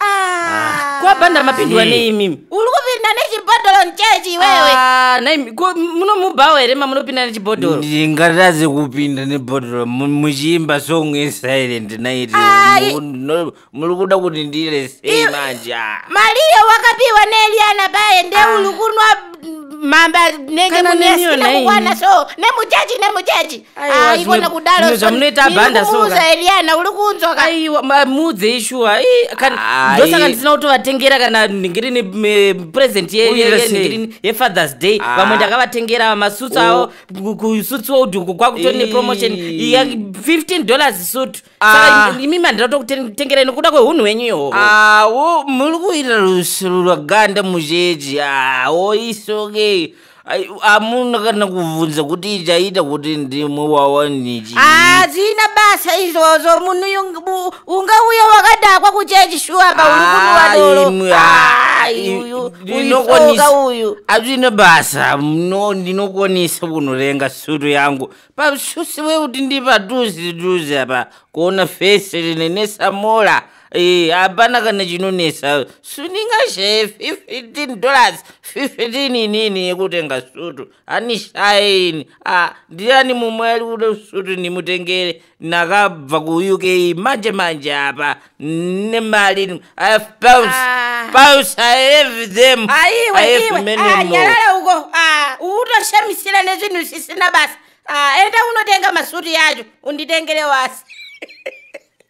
Ah. kwabhandara mapindwa Zii. nei mimi uri kupinda nechibhodhoro muchechi iwewe Ah, nai mi- ko munomubhawo here mamunopinda nechibhodhoro ndingatadze kupinda nebhodhoro mu- muchiimba song yesilent night Ai. Mu- no- muri kuda kuti ndire sei manje ah. mariyo wakapiwa neeliana baye ndeuri kunwa mamba nenge Kana neniyo munesiina nhaimi. kukwana so nemuchechi nemuchechi Aiwa, Aiko zvimwe- nekudaro zvimwe zvamunoita abhanda soka ndikumuudza Eliana uri kunzwa ka aiwa ma- muudzei shuwa Ii, kan- Ai. ndosaka ndisina kutovatengera kana nhingirini me- present ye- ye- Uite ye- sei? nhingirini yefathers day Ah. vamwe ndakavatengera masutsu avo ku- kusutsu wouduku kwakutori Ii. nepromotion ya 15 dollars sutu Ah. saka imi mandira tokutengerai nokuda kwehunhu wenyu ihoho awo muri kuita rusuru rwaganda mujeji awo isoke amuna kana kubvunza kuti ichaita kuti ndimwe wawaniki hazina basa izvozvo munhu ungauya wakadakwa kuchechi shuwa pauri kunuvadorodinokonisa uyu hazvina basa no ndinokonisa kunorenga sutu yangu pasusi wekuti ndipatuzi tuzi apa kuona fesi rine nesamola Eh, hapana kana chinonetsa suningashaye 15 dollars 15 inini yekutenga sutu anishaye ini ah, ndiani mumwe ari kuda sutu ndimutengere nakabva kuuk manje manje apa nemari ini i have pounds Ah. pounds i have them I aiwe have iwe many Ah, more. nyarara uko Ah, utoshamisira nezvinhu zvisina basa Ah, enda unotenga masutu yacho unditengere wasi